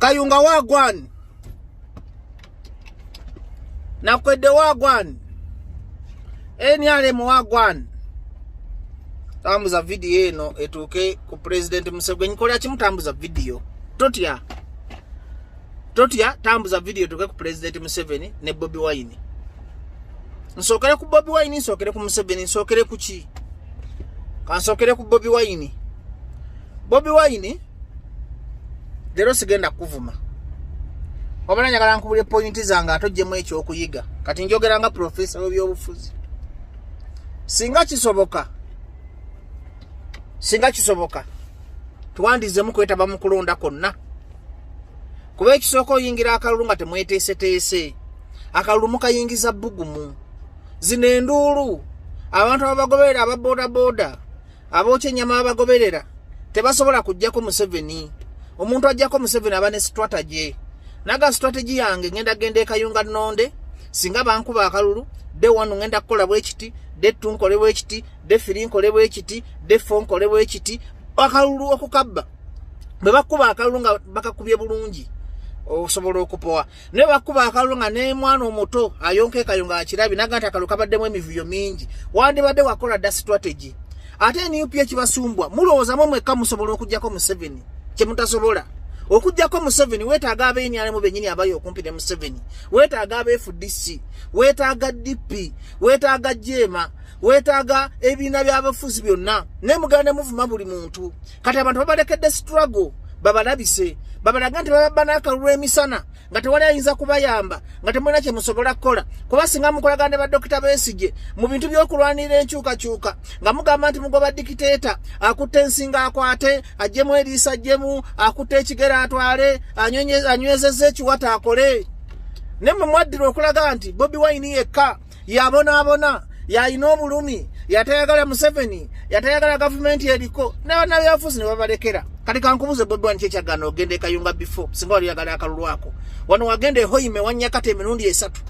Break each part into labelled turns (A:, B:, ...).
A: kayunga wagwan nakwedde wagwan nrm wagwan tambuza vidiyo eno etuuke ku pulezidenti museveni kola kimu tambuza vidiyo totya totya tambuza vidiyo etuuke ku pulezidenti museveni ne bobi wayini nsookere ku bobi wayini nsookere ku museveni nsookere ku ki kansookere ku bobi wayini bobi wayini leero sigenda kukuvuma wabala njagala nkubule pointi zange ate ojjemu ekyokuyiga kati njogera nga profesa webyobufuzi singa kisoboka singa kisoboka twandizemu kwetaba mu kulonda kwonna kuba ekisooka oyingira akalulu nga temweteeseteese akalulu mukayingiza bbugumu zino enduulu abantu ababagoberera aba bodaboda abooca ennyama babagoberera tebasobola kujjako museveni omuntu ajjako museveni aba ne strategy naga strategy yange ngenda genda ekayunga nonde singa bankuba akalulu de wanu ngenda kukola bwekiti de tu nkole bwekiti de firi nkole bwekiti de fo nkole bwekiti akalulu okukabba bwe bakuba akalulu nga bakakubye bulungi osobola okupowa ne bakuba akalulu nga nemwana omuto ayonka ekayo nga akirabi naga nti akalulu kabaddemu emivuyo mingi wandibadde wakola dda strategy ate nup ekibasumbwa mulowoozamu mwekka musobola okugyako museveni kyemutasobola okugyako museveni wetaaga abenyanemu benyini abali okumpi ne museveni wetaaga abefdc wetaaga dp wetaaga jeema wetaaga ebibiina byabafuzi byonna naye muganda muvuma buli muntu kati abantu babalekedde struggle babalabise babalaga nti bababba n'akalulu emisana nga tewali ayinza kubayamba nga temulina kye musobola kukola kuba singa mukolagana ne badokita besigye mu bintu by'okulwanirira enkyukakyuka nga mugamba nti mugoba dikiteeta akutte ensinga akwate ajjemu eriisa ajjemu akutte ekigero atwale anywezeza ekiwata akole naye mwe mwaddira okulaga nti bobi wayini yekka yabonaabona yalina obulumi yatayagala museveni yatayagala gavumenti eriko nabanabyafuzi nebabalekera kati kankubuze bobani kyekyagana ogenda ekayunga before singa wali yagala akalulwako wano wagenda ehoime wanyakata emirundi esatu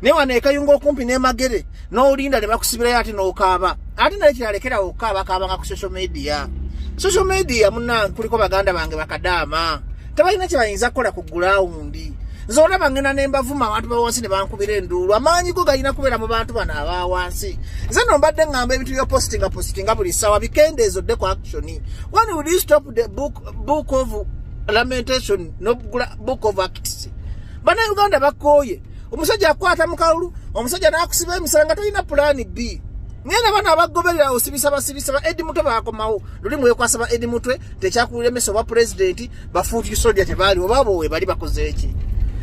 A: naye wano ekayunga okumpi nemagere nolinda nebakusibirayo ate nokaaba ate naye kiralekerawo okukaaba kaabanga ku social media social media muna kuliko baganda bange bakadaama tebalina kyebayinza kukola ku gulawundi nze olaba ngenda ne mbavuma abantu bawansi ne bankubira enduulu amaanyi go galina kubeera mu bantu bano aba wansi nze no mbadde ŋŋamba ebintu byopositinga positinga buli ssaawa bikendeezo dde ku action one would you stop the book, book of lamentation no book of acts bana uganda bakooye omusajja akwata mu kalulu omusajja n'akusiba emisala nga tolina pulaani bii naye nabana abagoberera osibisa basibisa ba edi mutwe bakomawo luli mwekwasa ba edi mutwe tekyakulira emesa oba pulezidenti bafuuti soja tebaali oba bowe bali bakoze eki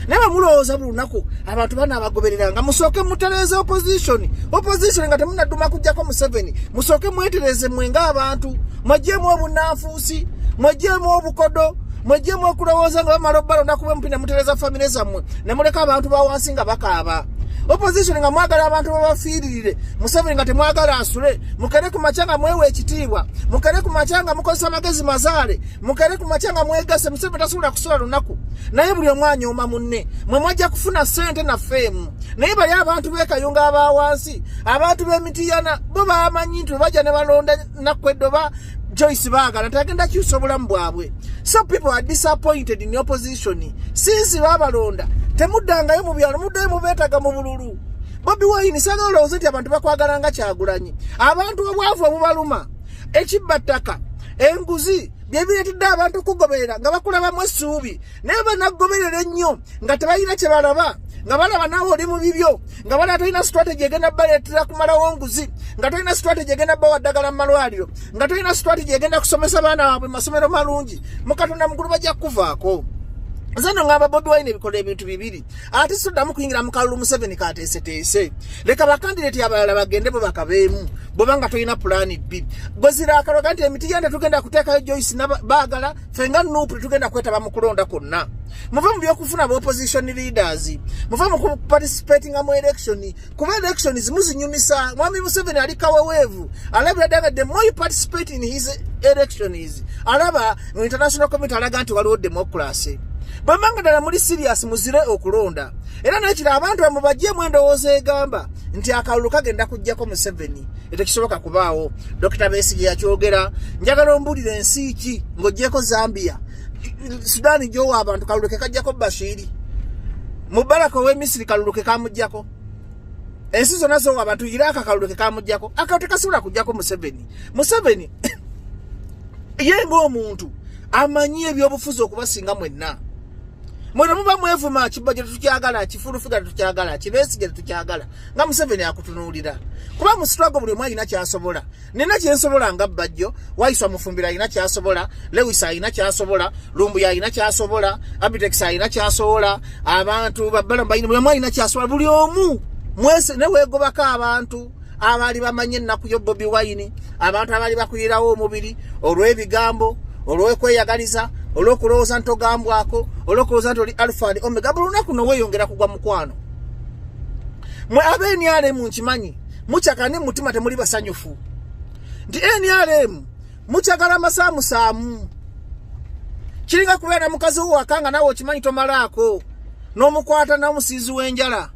A: naye bamulowooza buli lunaku abantu bana abagoberera nga musooke mutereeze opposition opposition nga temunaduma kujjako museveni musooke mwetereeze mwe nga abantu mwejjeemu obunanfuusi mwejjeemu obukodo mwejjeemu okulowooza nga bamala obbalonda kuba mupina mutereeza famire zammwe ne muleka abantu bawansi nga bakaaba opposition nga mwagala abantu babafiiririre museveni nga temwagala asule mukere ku makya nga mwewa ekitiibwa mukere ku makya nga mukozesa amagezi mazaale mukere ku makya nga mwegase museveni tasobola kusula lunaku naye buli omu anyooma munne mwe mwajja kufuna ssente naffe emu naye bali abantu b'ekayunga abawansi abantu b'emitiyana bo bamanyi nti bebajja ne balonda nakwedde oba joyce baagala nti agenda kyusa obulamu bwabwe so people are disappointed in opposition since babalonda temuddangayo mu byalo muddayo mubeetaga mu bululu bobi wayini saga olowooza nti abantu bakwagala nga kyagulanyi abantu obwavu obubaluma ekibba ttaka enguzi byebireetedde abantu okugoberera nga bakulabamu essuubi naye banakugoberera ennyo nga tebalina kye balaba nga balaba naawe oli mu bibyo nga balaba tolina strategy egenda baleetera kumalawo nguzi nga tolina strategy egenda bawa ddagala mu malwaliro nga tolina strategy egenda kusomesa baana waabwe masomero malungi mukatonda mukulu bajja kukuvaako nze no ngamba bobi wine ebikola ebintu bibiri ate soddamu kuyingira mu kalulu museveni kateeseteese leka bakandideti abalala bagende bwe bakabeemu bweba nga tolina pulaani bbi bwezira akaloga nti emiti yende tugenda kuteekayo joyce baagala fenga nupu tetugenda kwetaba mu kulonda kwonna muve mu byokufuna ba opposition leaders muve mu kuparticipatinga mu election kuba election zimu zinyumisa mwami museveni ali kaweweevu alabira danga the more you participate in his election is alaba mu international community alaga nti waliwo democracy bwemanga ddala muli sirius muzire okulonda era nekiro abantu bamwe bajjemu endowooza egamba nti akalulu kagenda kujjako museveni etekisoboka kubaawo dokita besigi yakyogera njagala ombuulira ensi ki ng'ogyeko zambia sudani gyowa abantu kalulu ke kajjako bashiri mubaraka owemisiri kalulu ke kamujjako ensi zonna zowa abantu iraka kalulu ke kamujjako akalo tekasobola kujjako museveni museveni ye ngaomuntu amanyi ebyobufuzi okubasinga mwenna mwena muba mwevuma kibba gye tetukyagala kifulufiga tetukyagala kibesigye tetukyagala nga museveni akutunuulira kuba musitwago buli omu alina kyasobola nina kyensobola nga bajjo waiswa mufumbira alina kyasobola lewis alina kyasobola lumbuya alina kyasobola abitex alina kyasobola abantu babbalamu balina buli omu alina kyasobola buli omu mwese newegobako abantu abaali bamanyi ennaku yo bobi wayini abantu abaali bakuyirawo omubiri olw'ebigambo olw'okweyagaliza olw'okulowooza nti ogambwako olw'okulowooza nti oli alfani omega buli lunaku noweyongera kugwa mukwano mwe abenyaale mu nkimanyi mukyakani mutima temuli basanyufu nti nrm mukyagala amasaamusaamu kiringa kubeera na mukazi wo waka nga nawe okimanyi tomalaako n'omukwata n'omusiizi w'enjala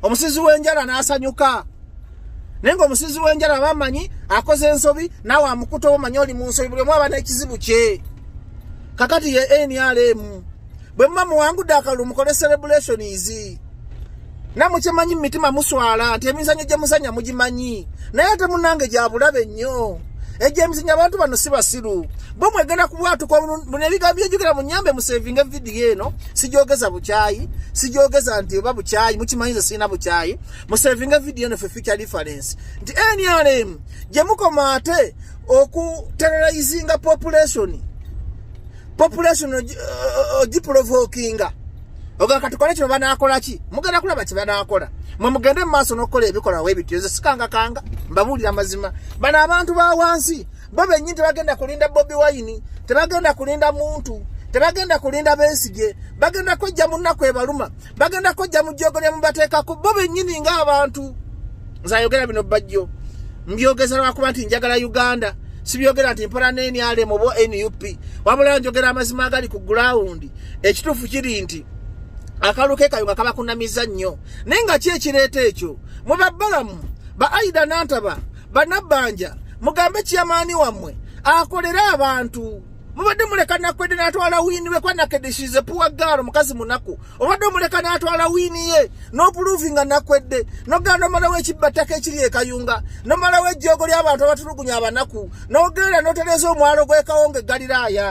A: omusiizi w'enjala n'asanyuka naye nga omusiizi w'enjala bamanyi akoze ensobi nawe amukuta omanyi oli mu nsobi buli omu aba n'ekizibu kye kakati ye nrm bwe muba muwangudde akalulu mukole celebration izi namukyemanyi mumitima muswala nti emizanyo gye muzanya mugimanyi naye ate munange gyabulabe nnyo egyo emizanyo abantu bano si basiru bo mwegenda kubwatuka buno ebigambo byejukira munyambe musevinga evidiyo eno sigyogeza bukyayi sigyogeza nti oba bukyayi mukimanyize sirina bukyayi musevinga evidiyo eno fe future difference nti nrm gye mukoma ate okuterrorizinga population population ogiprovokinga uh, uh, uh, oga katukole kino banakola ki mugenda kulaba kye banakola mwe mugende mu maaso n'okukola ebikolwa webityo nze sikangakanga mbabuulira mazima bano abantu ba wansi bo bennyini tebagenda kulinda bobi wayini tebagenda kulinda muntu tebagenda kulinda besigye bagenda kwejja mu nnaku ebaluma bagenda kujja mu jjogo lya mubateekako bo bennyini ng'abantu nze ayogera bino bajjo mbyogeza lwakuba nti njagala uganda sibyogera nti mpola nenrm oba nup wabula njogera amazima agali ku gulawundi ekituufu kiri nti akalu ke kayo nga kabakunamiza nnyo naye nga ki ekireeta ekyo mwe babbalamu ba aida nantaba banabbanja mugambe kiyamaani wammwe akolere abantu mubadde muleka nakwedde natwala wiini we kwa nakedde shize puwa gaalo mukazi munaku obadde omuleka natwala wiini ye nopuluvi nga nakwedde nogenda nomalawo ekibbattaka ekiri ekayunga nomalawo ejjoogo ly'abantu abatulugunya abanaku nogenda notereza omwalo gwekawonga egaliraaya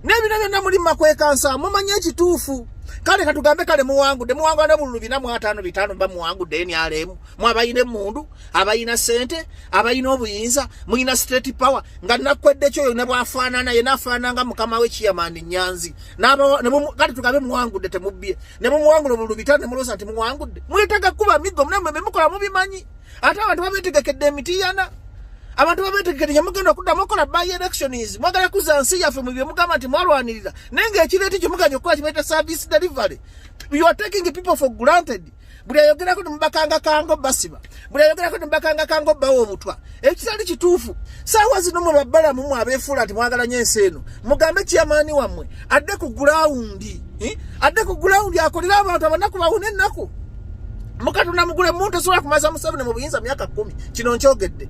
A: n'ebino byonna muli makwekansa mumanye ekituufu kale katugambe kale muwangudde muwangula nobululu bina mu ataano bitaano mba muwangudde enyalemu mwabayina emundu abayina sente abayina obuyinza muyina state power nga nakwedde kyoyo nebwafaanana yena afaananga mukama we kiyamani nyanzi kati tugabe muwangudde temubbye nemumuwangula obulubita nemulosa nti muwangudde mwetaga kuba miggo mnamwe bemukola mubimanyi ate abantu babetegekedde emitiyana abantu babetegekede nyamugenda okuddamu okola by elections mwagala kuza nsi yaffe mu byemugamba nti mwalwanirira naye ngaekireeti kyemuganya okukola kibaita service delivery you are taking people for granted buli ayogerako nemubakanga kango basiba buli ayogerako nemubakanga kango bawa obutwa ekitali kituufu saawa zino mwe babbalamu mwe abeefuula nti mwagala nyo ensi eno mugambe kyamaani wammwe adde ku gulawundi eh? adde ku gulawundi akolere abantu abanaku bawuna ennaku mukatonda mugule muntu osobola kumaza museveni mu buyinza myaka kumi kino nkyogedde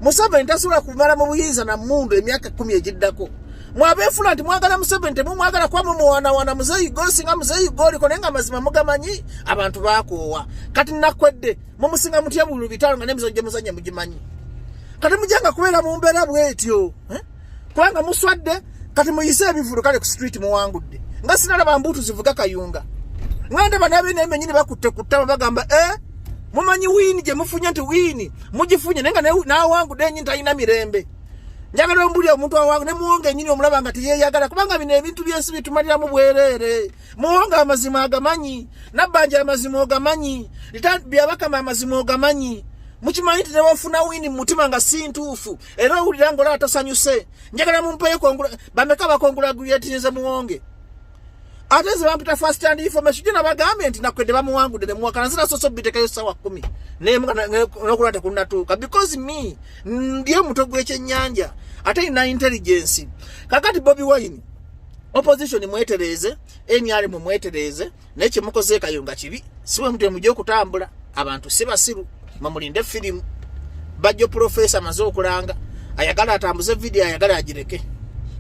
A: museveni tasobola kumala mu buyinza na mundu emyaka kumi egiddako mwabeefula nti mwagala museveni temumwagala kuba mumuwaanawaana muzeeyi gwe osinga muzeeyi gwe oliko naye nga mazima mugamanyi abantu bakoowa kati nakwedde mumusinga mutya bulu bitaalo nga nemizo gye muzanya mugimanyi kati mujanga kubeera mu mbeera bwetyo eh? kubanga muswadde kati muyise ebivulu kale ku street muwangudde nga sinalaba mbuutu zivuga kayunga nga ndaba nabe nemenyini bakutte ku ttama bagamba e eh? mumanyi wiini gye mufunye nti wiini mugifunye naye nga nawangudde enyi talina mirembe njagala ombuli omuntu awange ne muwonga enyini omulaba nga teyeyagala kubanga bino ebintu byensi bitumaliramu bwereere muwonga amazima agamanyi nabbanja amazima ogamanyi byabakama amazima ogamanyi mukimanyi nti newafuna wini mumutima nga si ntuufu era owulira ngaola atasanyuse njagala mumpeyo bameka bakongulagulyetirize muwonge ate nze bamputa first hand information jona bagambye nti nakwedde bamuwangude ne muwakana zina soso bitekayo sawa 10 ne nokula ta kunna tuka because me ndiye muto gweche nyanja ate ina intelligence kakati bobby wine opposition mwetereze enyale mu mwetereze ne kimukoze kayo nga kibi siwe mtu muje kutambula abantu siba siru mamulinde film bajo professor mazo kulanga ayagala atambuze video ayagala ajireke